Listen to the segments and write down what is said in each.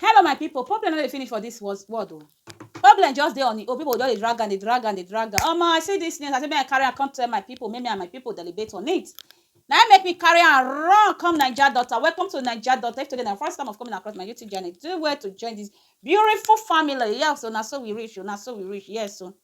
Hello my people, problem no dey finish for this world o. Oh. Problem just dey on e own, people just dey drag am, dey drag am, dey drag am. Omo, I see this news, I say make I carry am come tell my people, make me and my people deliberate on it. Now I make me carry am run come Naija daughter. Welcome to Naija daughter. If today na first time of coming across my YouTube channel, do well to join this beautiful family. Yes, so now so we reach, so now so we reach. Yes, so.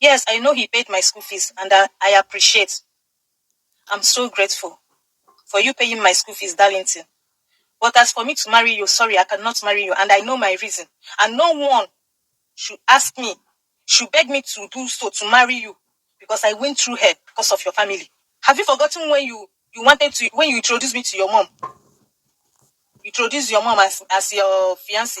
Yes I know he paid my school fees and I I appreciate I'm so grateful for you paying my school fees darlington but as for me to marry you sorry I cannot marry you and I know my reason and no one should ask me should beg me to do so to marry you because I went through hell because of your family have you forgotten when you you wanted to when you introduced me to your mom you introduced your mom as as your fiance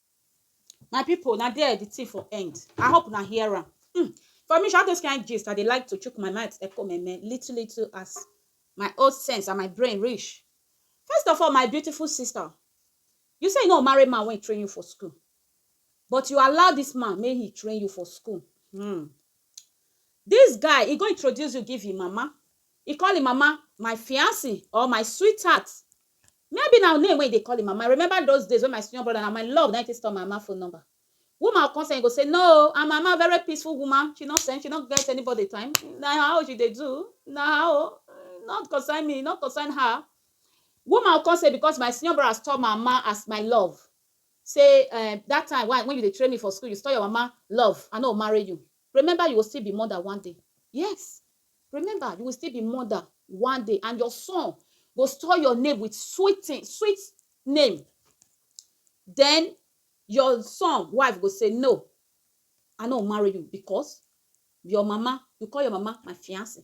my people na there the thing for end i hope na hear am hmm. for me all those kind gist i dey like to chook my mouth echo meme little little as my old sense and my brain reach first of all my beautiful sister you say you no marry man wey train you for school but you allow this man make he train you for school hmm. this guy he go introduce you give him mama E call im mama my fiance or my sweetheart. Maybe na name wey e dey call im mama. I remember those days wey my senior brother, na my love na im take store my mama phone number. Woman go come send, e go say, No o, her mama very peaceful woman, she no send, she no get anybody time, na her own she dey do, na her own, e no concern me, e no concern her. Woman go come say because my senior brother store my mama as my love, say um that time wey I wey you dey train me for school, you store your mama love, I no go marry you. Remember you will still be mother one day. Yes, Remember, you will still be mother one day, and your son go store your name with sweet thing, sweet name. Then your son wife go say, No, I no marry you because your mama, you call your mama my fiance.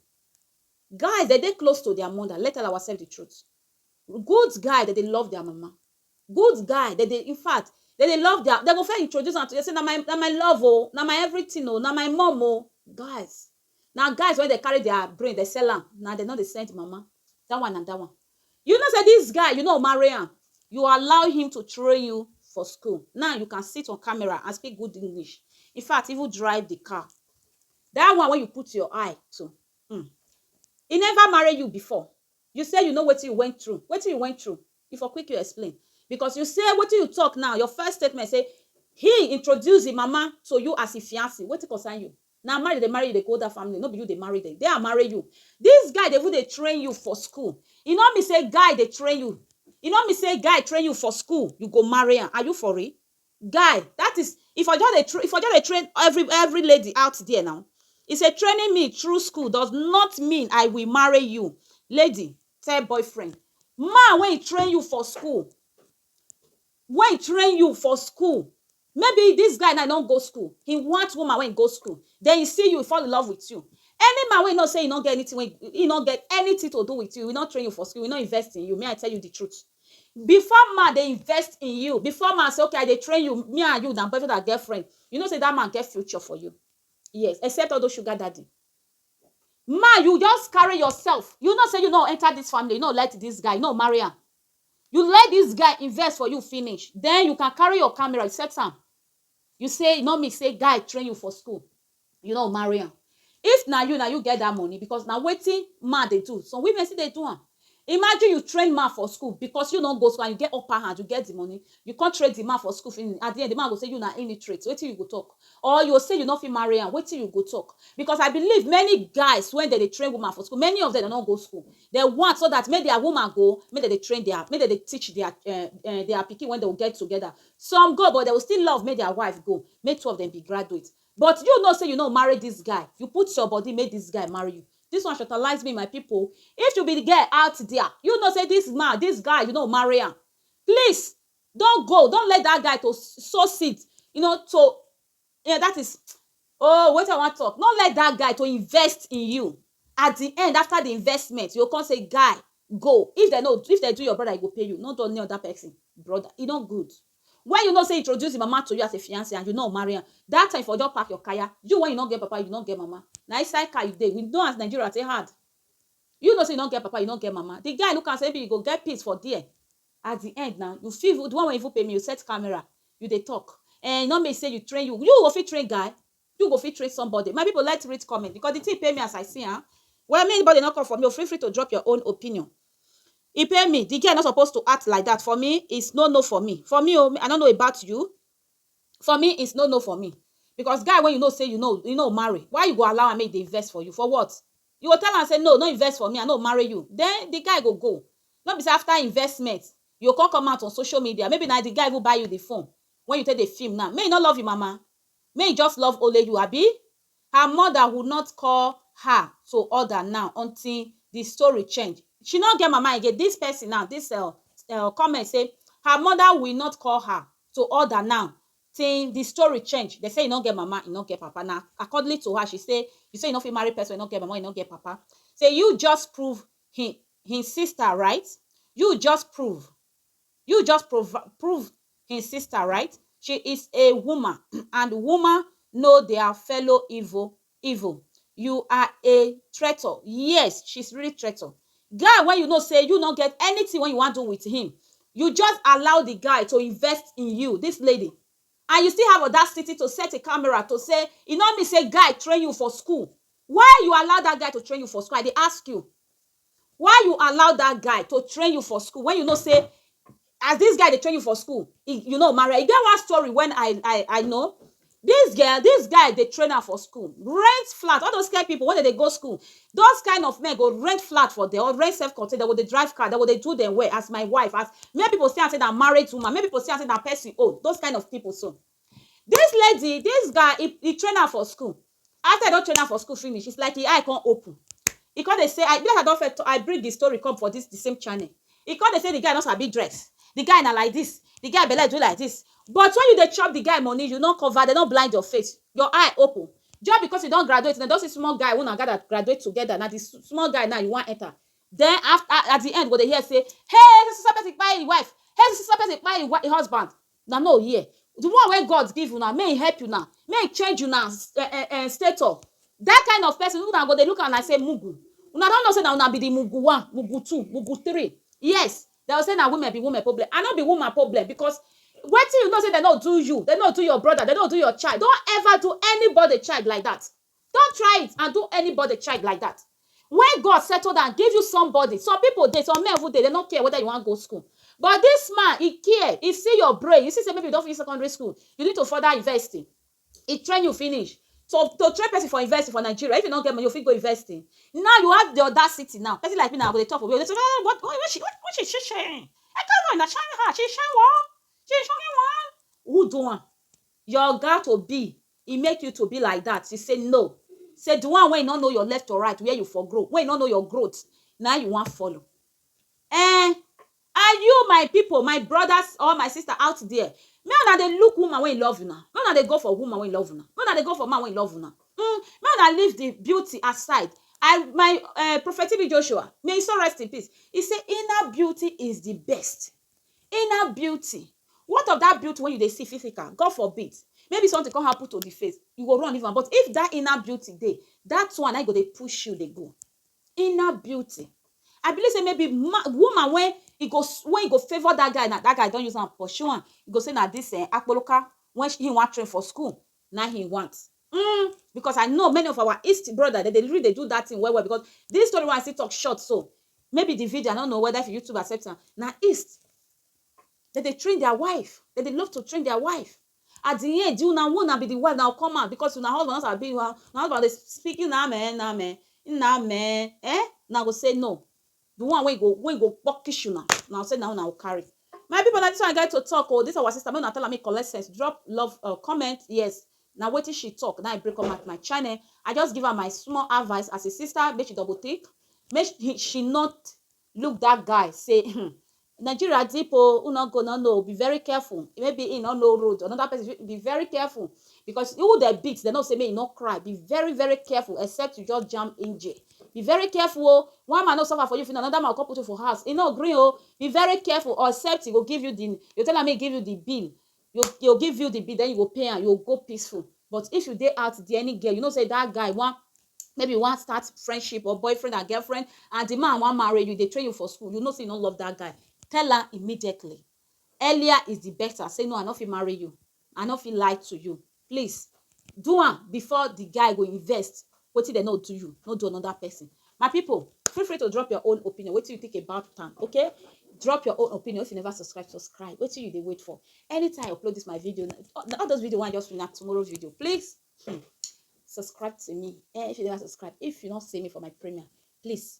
Guys, they dey close to their mother. Let tell ourselves the truth. Good guy that they love their mama. Good guy that they, in fact, that they love their, they go first introduce am to you. Say, na my, na my love, oh, na my everything, oh, na my mom, oh. Guys, Na guys wey dey carry their brain dey sell am na dem no dey send mama that one na that one you know say this guy you no marry am you allow him to train you for school now you can sit on camera and speak good English in fact even drive the car that one wey you put your eye to um he never marry you before you say you know wetin you went through wetin you went through he for quick you explain because you say wetin you talk now your first statement say he introduce him mama to you as him fiance wetin concern you Na marry dem dey marry you dey go that family no be you dey marry dem dey amare you this guy dey even dey train you for school e no mean say guy dey train you e no mean say guy train you for school you go marry am are you for real guy that is e for just dey train e for just dey train every every lady out there now e say training me through school does not mean I will marry you lady tell boyfriend man wey e train you for school Wey train you for school Maybe this guy now e no go school He want woman wey go school Then he see you, he fall in love with you Any man wey you know say he no get anything wey He no get anything to do with you He no train you for school He no invest in you May I tell you the truth Before man dey invest in you Before man say okay I dey train you Me and you na boyfriend and girlfriend You know say that man get future for you Yes except all those sugar daddy Man you just carry yourself You know say you no enter this family You no like this guy You no marry am You let this guy invest for you finish, then you can carry your camera, you set am. You say e no mean say guy train you for school, you no marry am. If na you, na you get that money because na wetin man dey do. Some women still dey do am. Imagine you train man for school because you no go school and you get upper hand, you get the money, you come train the man for school finish, at the end, the man go say you na illiterate, wetin you go talk? Or you go say you no fit marry am, wetin you go talk? Because I believe many guys wey dem dey train woman for school, many of them dem no go school. Dem want so dat make dia woman go, make dem dey train dia, make dem dey teach dia um um dia pikin wen dey go get togeda. Some go but dey go still love make dia wife go, make two of dem be graduate. But you know sey you no marry dis guy, you put your body make dis guy marry you. Dis one shortalize me my pipu o. If you be di girl out dia, you know sey dis man, dis guy you no go marry am, please don go, don let dat guy to sow seed, you know to Yeah that is oh wetin I wan talk no let that guy to invest in you at the end after the investment you go come say guy go if dem no if dem do your brother e go pay you no do any other person brother e no good when you know say introduce him mama to you as a fiance and you no marry am that time for just pack your kaya you when you no get papa you no get mama na inside car you dey we know as Nigeria take hard you know say you no get papa you no get mama the guy look am say maybe you go get peace for there At the end na you fit even the one wey even pay me you set camera you dey talk eh e no mean say you train you you go fit train guy you go fit train somebody my people let read comment because the thing pay me as I see am well me anybody no come for me o feel free to drop your own opinion e pay me the girl no suppose to act like that for me is no no for me for me o I no know about you for me is no no for me because guy wey you know say you no you no marry why you go allow am make e dey invest for you for what You go tell am say no, no invest for me, I no marry you, then the guy go go. No be say after investment, you go come come out on social media, maybe na the guy even buy you the phone wey you take dey film now, make he no love him mama, make he just love only you abi? Her mother would not call her to order now until the story change. She no get mama again, this person now, this um comment say her mother will not call her to order now Tin di story change, dem say e no get mama, e no get papa. Na accordingly to her, she say, You say you no fit marry pesin wey no get mama, wey no get papa. Say you just prove hin hin sister right? You just prove you just prov prove hin sister right? She is a woman and woman know dia fellow evil evil you are a traitor yes she's really traitor guy when you know say you no get anything when you want do with him you just allow the guy to invest in you this lady and you still have audacity to set a camera to say e no mean say guy train you for school why you allow that guy to train you for school i dey ask you why you allow that guy to train you for school when you know say as this guy dey train you for school e you no marry am e get one story when i i i know this girl this guy dey train am for school rent flat all those kind people wey dem dey go school those kind of men go rent flat for them or rent self contained dem go dey drive car dem go dey do them well as my wife as many people see am say na married woman many people see am say na person own those kind of people so This lady, this guy e e train am for school after e don train am for school finish it's like e eye come open e come dey say e be like I don first I bring the story come for this the same channel e come dey say the guy no sabi dress the guy na like this the guy belle do like this but when you dey chop the guy money you no cover dem no blind your face your eye open just because you don graduate dem don see small guy wey una gather graduate together na the small guy now you wan enter then after at the end you go dey hear say hey so so so person kpai him wife hey so so so person kpai him husband Una no hear. The one wey God give una, make e help una, make e change una um stature. Dat kind of pesin, una go dey look am like sey mugu. Una don know sey na una be the mugu one, mugu two, mugu three. Yes, de go say na women be women problem. I no be woman problem because wetin you know sey de no do you, de no do your brother, de no do your child, no ever do anybody child like dat. Don't try it and do anybody child like that when God settle down give you somebody some people dey some men even dey they no care whether you wan go school but this man he care he see your brain he see say maybe you don finish secondary school you need to further university he train you finish so to train person for university for Nigeria if you no get money you fit go university now you have the audacity now person like me now I go dey talk for where dey say ah what what what she what what she sharing I don't know na shine her she shine what she shocking one who do am Your oga to be e make you to be like dat you say no say di one wey e no know your left or right where you for grow wey e no know your growth na im you wan follow ehn and you my pipo my brodas or my sista out there make una dey look woman wey e love una make una dey go for woman wey e love una make una dey go for man wey e love una um make una leave di beauty aside I my um prophet TB Joshua may e soul rest in peace e say inner beauty is di best Inner beauty, what of dat beauty wey you dey see physical, God forbid maybe something come happen to di face, you go run leave am but if dat inner beauty dey, dat one na im go dey push you dey go. Inner beauty, I believe sey maybe man, woman wey e go wey e go favour dat guy now, dat guy don use am pursue am, e go sey na dis um akpoloka wey im wan train for school na him want mm because I know many of our east brother dem dey really dey do that thing well well because this story wey I still talk short so maybe the video I no know whether if YouTube accept am na east dem dey train their wife dem dey love to train their wife at the end una one na be the wife na come out because una husband no sabi una husband dey speak una amen amen una amen eh una go say no The one wey go wey go pukish una na say na una go carry. My people na this one I get to talk oh, this our sister make una tell am make e collect sense, drop love um comment yes na wetin she talk na I bring come out my channel, I just give am my small advice as a sister make she double think make she not look that guy say um Nigeria deep o, u no go no know, be very careful, maybe he no know road, another person fit, be very careful because who dem beat dem know say make he no cry, be very very careful except you just jam engine, be very careful o, one man no suffer for you finish another man go come put you for house, he no gree o, be very careful or except he go give you the, you go tell am make he give you the bill, you dey go give you the bill then you go pay am you go go peaceful but if you dey out there any girl you know say that guy wan maybe you wan start friendship or boyfriend and girlfriend and the man wan marry you dey train you for school you know say you no love that guy tell am immediately earlier is the better say no i no fit marry you i no fit lie to you Please do am before the guy go invest wetin dem no do you no do another person my people feel free to drop your own opinion wetin you think about am okay drop your own opinion if you never subscribe subscribe wetin you dey wait for anytime i upload this my video all those video one just na tomorrow video please hmm, subscribe to me eh if you never subscribe if you not see me for my premiere please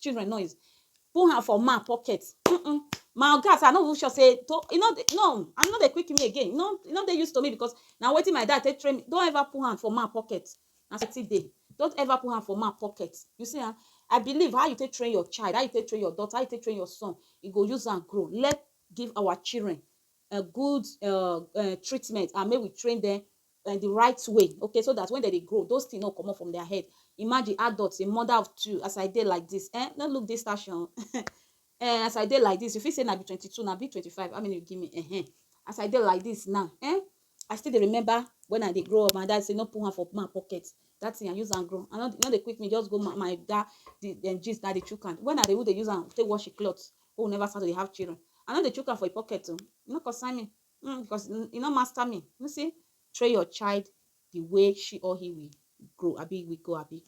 children noise put hand for man pocket um my oga sef I no even sure sey to e no dey no I no dey quick me again e no e no dey use to me because na wetin my dad take train me don't ever put hand for man pocket na so I take dey don't ever put hand for man pocket you see am I believe how you take train your child how you take train your daughter how you take train your son you go use am grow let give our children um good um treatment and make we train dem like the right way okay so that when they dey grow those things no comot from their head imagine adults a mother of two as i dey like this eh no look this station eh as i dey like this you fit say na be twenty-two na be twenty-five how many you give me eh eh as i dey like this now eh i still dey remember when i dey grow up my dad say no put hand for man pocket that thing i use am grow i no no dey quick me just go my my dad the dem gist na dey chook am when i dey even dey use am take wash the cloth wey we never start to dey have children i no dey chook am for im pocket o e no concern me mm, because e no master me you see train your child the way she or he will grow abi we go abi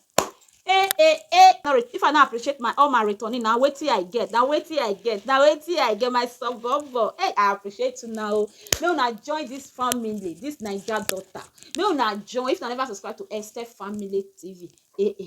eh eh eh sorry if i no appreciate my all my returning na wetin i get na wetin i get na wetin i get my suburban hey i appreciate you now oh. make una join this family this naija daughter make una join if una never subscribe to esther family tv eh eh